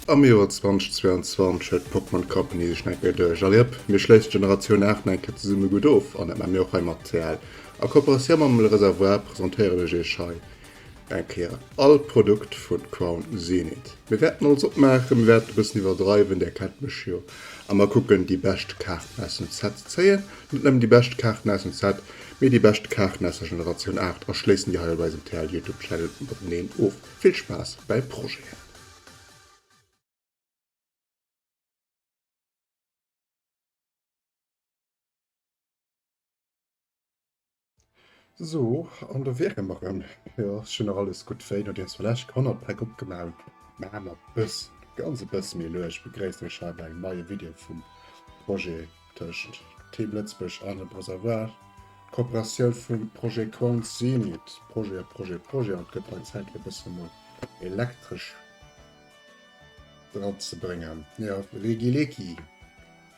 Am Joer 2022 huet d'Pokémon Company sech nach eng Kéier duerch. Allez hop, mir schléissen d'Generatioun 8 nach eng Kéier zesumme gutt of an dat maache mir och hei mat TL. A Kooperatioun mam Le Réservoir presentéieren ech iech hei Eng Kéier all Produkt vun Crown Zenith. Mir wärten alles opmaachen, mir wärten e bëssen iwwerdreiwen, där kennt mech jo, a mer kucken déi bescht Kaarten aus dem Set ze zéien. Net nëmmen déi bescht Kaarten aus dem Set, mee déi bescht Kaarten aus der Generatioun 8 a schléissen déi hei op eisem TL Youtube Channel mateneen of. Vill Spaass bäi Projeten! So an do wiere mer rëm. Jo ass schon nach alles gutt wéi no dir ass vläch honnert Päck opgemaach mä mat bëss ganz e bësse méi luecht. Begréisst iech hei bei engem neie Video vum Projet tëscht Team Lëtzebuerg an dem Reservoir. D'Kooperatioun vum Projet Quants Zenit, Projet a Projet Projet an et gëtt hei Zäit fir e bësse mol elektresch dran ze bréngen. Jo Regileki.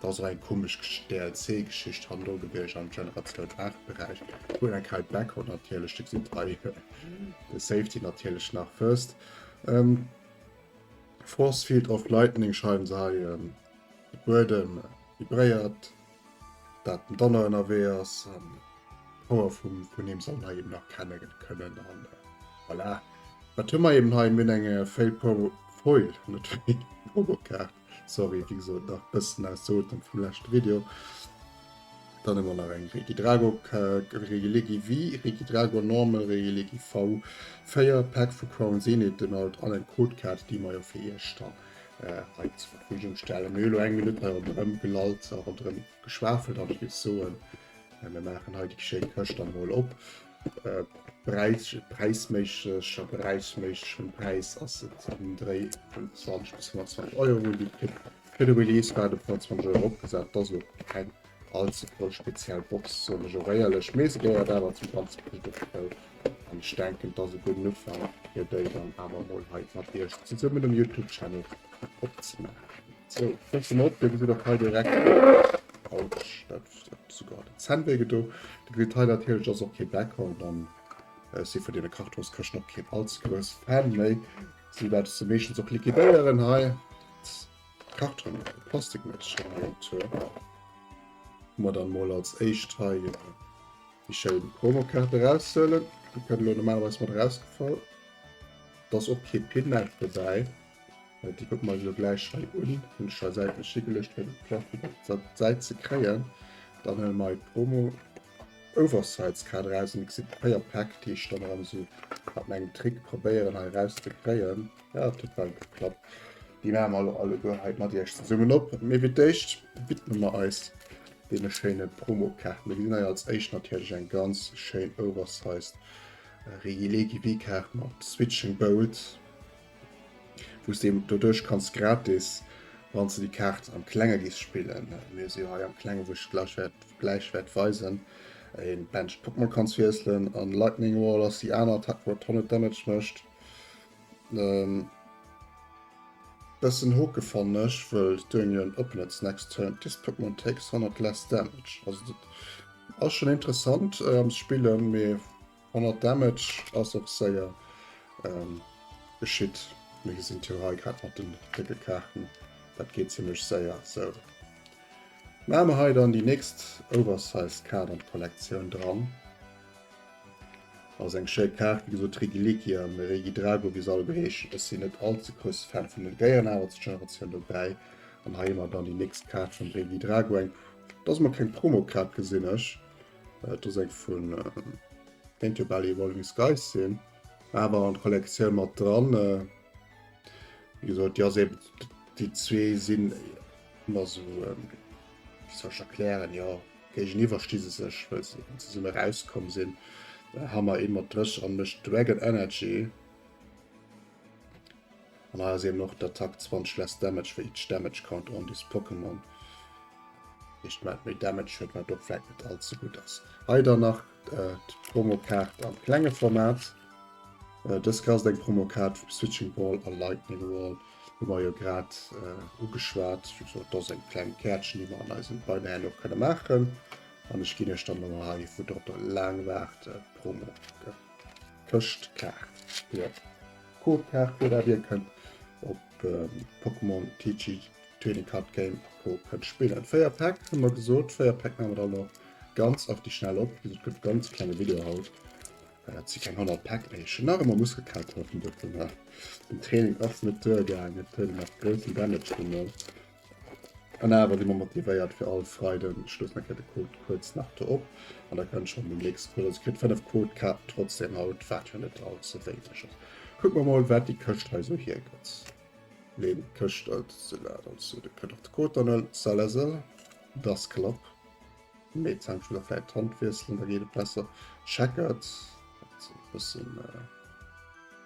Et ass och eng komesch DLC-Geschicht han elo geduecht am Generatioun 8 Beräich wou eng Kei Backhand natierlech de gesitt hei de Safety natierlech nach first ähm, Force Field of Lightning schreiwen se hei ähm, de Buedem vibréiert dat den Donner ënnerwee ass an d'Power vum vun him soll hei eben erkenne kënnen an voilà wat hu mer eben hei mir hunn eng Fail Pro Foil net Probokaart Sorry, wéi gesot, nach bëssen aus de Otem vum leschte Video. Dann hu mer nach eng Regidrago Regilegi V, Regidrago Normal, Regilegi V, 4 Pack vu Crown Zenith, den alt an eng Codekaart, déi mer jo fir iech dann hei zur Verfügung stellen. Mir hu lo eng Minutt hei ronderëm gelallt a ronderëm geschwafelt an ech géif soen, mir maachen hei déi schéi Këscht dann emol op. Äh, Präis, präisméisseg, a beräichsméisseg vum Präis ass et um Dréi vun 20 bis 120 Euro, déi kritt. Fir de Release war et op 120 Euro opgesat. Et ass elo keng all ze voll speziell Box, soen ech och éierlech, mee se gehéiert awer zum ganze Kit dozou, an ech denken, et ass e gudden Ufank, fir déi dann awer emol hei mat iech zesummen um YouTube-Channel opzemaachen. Sou, fëlls se mer op, da gesitt och hei direkt, Autsch, dat. sogar den Cent wéi gedo. De Grid hei natierlech ass och kee Bäcker und dann äh, si vun deene Kartonskëschten och keen als grouss Fan méi. Si wat se meeschtens och liquidéieren hei. Karton Plastik Mëtschen mat dann mol als éischt hei déi schéi Promokaarte raushuelen. Di kënne lo normalerweis mat rausgefall. Dass och kee Pin-Net dobäi. Déi kucke mer eis elo gläich hei un. Hunn ech hei säitlech higeluecht fir de Plaf gutt op der Säit ze kréien. Dann huele mer hei d'Promo Oversize Kaart eraus. Dir gesitt véier Päck, déi ech dann erëm esou mat mengem Trick probéieren hei eraus ze kréien. Jo, et huet well geklappt. Déi maache mer elo alleguer hei mat iech zesummen op. Mee fir d'éischt widme mer eis deene schéine Promokaarten. Mir gesinn hei als éischt natierlech eng ganz schéin Oversize Regi-Legi-Wii-Kaart mat Switching Bolt. wous de doduerch kanns gratis wanns de déi Kaart am klenge gees spillen, mir si jo hei am klengen wou ech gleich wärt gleich wärt weisen, een Benched Pokémon kanns wiesselen an Lightning Wall ass déi aner Attack wat 100 Damage mecht. Bessen hoke fannen ech wëll during your opponent's next turn this Pokémon takes 100 less damage, also dat ass schon interessant am spillen mee. 100 Damage ass och séier geschitt. Mir gesinn et jo hei grad mat den décke Kaarten, dat geet zimmlech séier. Sou, maache mer hei dann déi nächst oversized Kaart an d'Kollektioun dran. Ass eng schéi Kaart, wéi gesot Rigilikia, mee Regidrago, wéi se all elo heeschen. Ech sinn net all ze grousse Fan vun den Déieren, awer zur Generatioun dobäi. An hei hu mer dann déi nächst Kaart vum Regidrago, eng, dass mer keng Promokaart gesinn ech. Äh, do seng vun Paint Your Belly Evolving Skies sinn, awer an Kollektioun mat dran. Äh, wie gesot ja se déi zwee sinn immer so ähm, soch erklären ja géigen iwwer sti se sech well se ze summer rauskom sinn. Da hammer ee mat Drëch an mech Dragon Energy. An hei ass eben och d'Attack 20 less Damage for each damage count on this Pokémon. Heescht wat méi Damage huet, wat och vläit net all ze gutt ass. Hei dann nach d'Promokaart am klenge Format. Dës Kaart ass eng Promokaart vum Switching Ball a Lightning Wall, hu mer jo grad ugeschwat. Dat ass eng kleng Käertchen, déi mer an eisem Beider Händler och kënne maachen. An ech ginn iech dann elo hei, vu drop der laang Waart, d'Promo. Këschtkaart fir d'Code-Kaart gëtt a wien kënnt op Pokémon TCG Trading Card Game a Co kënnt spillen. 4 Päck hu mer gesot, 4 Päck maache mer dann och ganz auf die schnell op. Wéi gesot gëtt e ganz klenge Video haut. Et si keng 100 Päck méi, ech hunn nach ëmmer muss gekat kafen dovunner. Den Training ass net duergaangen, et huet nach groussen Damage geholl. An awer si mer motivéiert fir all Freiden. Ech loossen eng Kéier de Code kuerz nach do op an da kënnt schonn den nächste Code. Also kritt 5 Codekaarten trotzdeem haut, wat jo net all ze wéineg ass. Kucke mer mol, wat déi Këscht hei esou hiergëtt. Leen d'Këscht an se laat an zu. Da kënnt och de Code dann un. Salazar, dass Klapp. Mee zank ech muss och vläicht d'Hand wiesselen, da geet et besser. Checkert, dat ass e bëssen.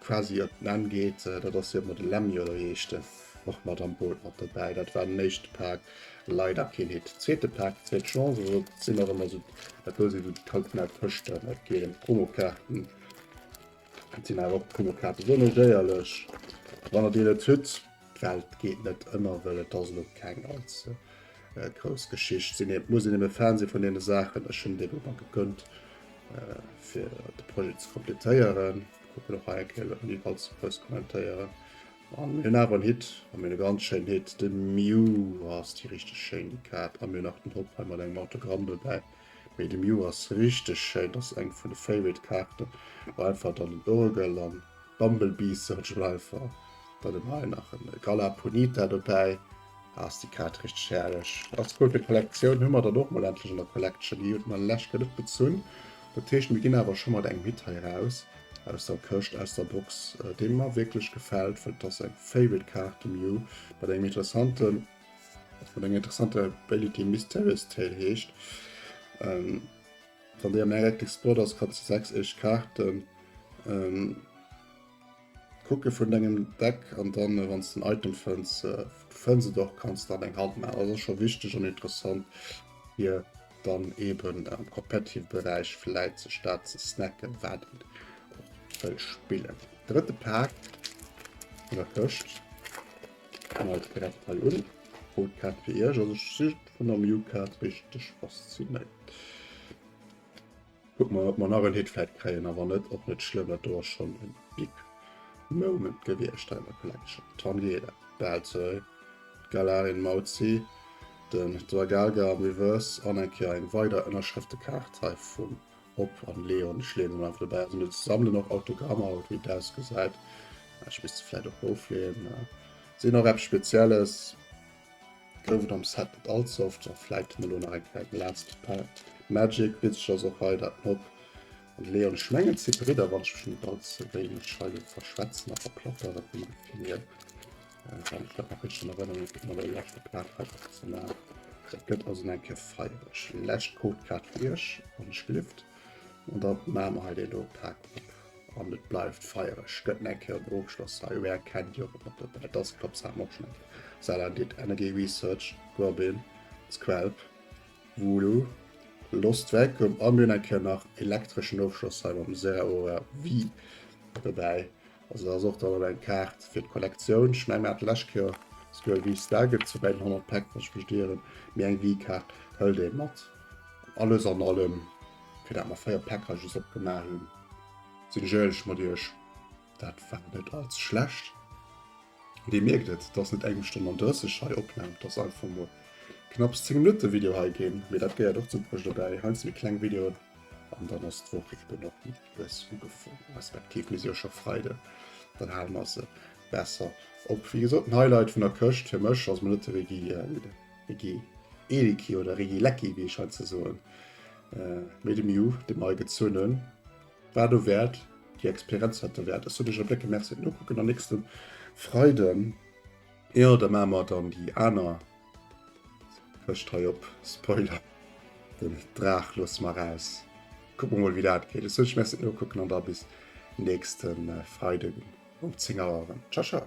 quasi op den Enn geet, dat ass jo mat de Lemmy oder wéi heescht en och mat am Boot mat dobäi. Dat war den éischte Pak, leider keen Hit. Zweete Pak, zweet Chance, also et sinn och ëmmer esou, dat do si sou déi traditionell Fëschten, et geet ëm d'Promokaarten, et sinn awer och d'Promokaarte sou méi déierlech, wann der déi net hutt, d'Welt geet net ënner, well et ass elo keng ganz grouss Geschicht, sinn ee muss een eben Fan si vun deene Saachen, ech hunn déi elo emol gegënnt fir de Projet ze completéieren. An Hit an mir ganz schéin Hit de Mew ass déi richteg schéin déi Kaart a mir nach den Hopp hei mat engem Autogramm dobäi. Mee de Mew ass richteg schéin, ass eng vun de Favorite Kaarte war einfach dann den Urgel an Bumblebee Search Life war. Dann hunn hei nach en Galapunita dobäi. Ass déi Kaart richteg herrlech. Als Cote Collection hu mer dann och mol endlech an der Collection. Déi huet mer lech gëtt net gezunn. Dat heescht mir ginn awer scho mat engem Hit hei raus aus der Këscht, aus der Box, dee mer wierklech gefält, well et ass eng Favorite Kaart de Mew mat engem interessante, mat enger interessanter Ability, Mysterious Tail heescht. Wann déi am Heretics Board ass, krut se 6 éischt Kaarten. Kucke vun dengem Deck an dann wann s den Item fënns, du fënns et och, kanns dann eng Hand maachen. Dat ass scho wichteg an interessant fir dann eben am competitive Beräich vläit sech dat ze snacken, wat een och wëll spillen. Drëtte Pak vun der Këscht, fänken also direkt hei un. Rot Kaart fir Iech, also ech si vun der Mew Kaart richteg faszinéiert. Kucken mer ob mer nach en Hit vläit kréien a wann net och net schlëmm, dat do ass schonn en Big Moment gewiescht hei an der Collection. Tangela, Bad Sir, d'Galarin Mauzi, den Dragalga am Reverse an eng Kéier eng weider Ënnerschrëftekaart hei vum Op an Leon. Ech leeën se mol einfach dobäi, also net sammelen och Autogrammer haut wéi et ausgesäit, ech misst se vläit och ofleeën, sinn och eppes Spezielles. Gouf et am Set net allze oft, sou vläit hunn elo nach eng kleng last pack magic. Witzeg ass och hei dat Nob an de Leon, ech mengen et si Bridder wann ech mech net allze wéineg hei lo verschwätzen a verplapperen, vun der Filière wann ech dat nach richteg an Erënnerung hunn, mat der leschter Plack hei och ze maachen. Dat gëtt also eng Kéier feiereg. Lescht Codekaart fir iech, wann ech gelift. An da maache mer hei dee lo Pak op. an et bleift feiereg gëtt eng Kéier den Ofschloss hei Ware kennt jo op der Welt ass Klopp Sam och schonn Salah did Energy Research Robin Squelp Voodoo Lost Vacuum an hunn eng Kéier nach elektreschen Ofschloss hei mam Zeraora Wii dobäi also da ass och dann eng Kaart fir d'Kollektioun ech menge mir hate lescht Kéier esouguer e Wii Star gëtt zu bei den 100 Pack wann ech mech net ieren mee eng Wii Kaart hëlt ee mat alles an allem fir dat mer 4 Packages opgemaach hunn, sinn ech éierlech mat iech, dat war net allze schlecht. Dir mierkt et, et ass net eng Stonn an 30 hei Opnam, et ass einfach mol knapps 10 Minutte Video hei ginn, mee dat gehéiert och zum Projet dobäi. Heiansdo méi kleng Videoen an dann ass d'Woch eben och méi lues ugefuer respektiv mir si jo scho Freiden, dann hale mer se besser op. Wéi gesot, den Highlight vun der Këscht fir mech ass Mëllette-Veggie. Reggie Eelicki oder Reggie Lecki, wéi ech hei ze soen, méi dem Ju, dem hei gezunnen, war do wäert, déi Experienz war derwäert. Ech soen iech op Lécke Merci, nokucken dann nächste Freiden, jo, da maache mer dann déi aner Këscht hei op, Spoiler, den Draach loosse mer eraus, kucke mer mol, wéi dat geet. Ech soen iech Merci, nokucken an da bis nächste Freiden um 10 Auer erëm. Ciao, ciao.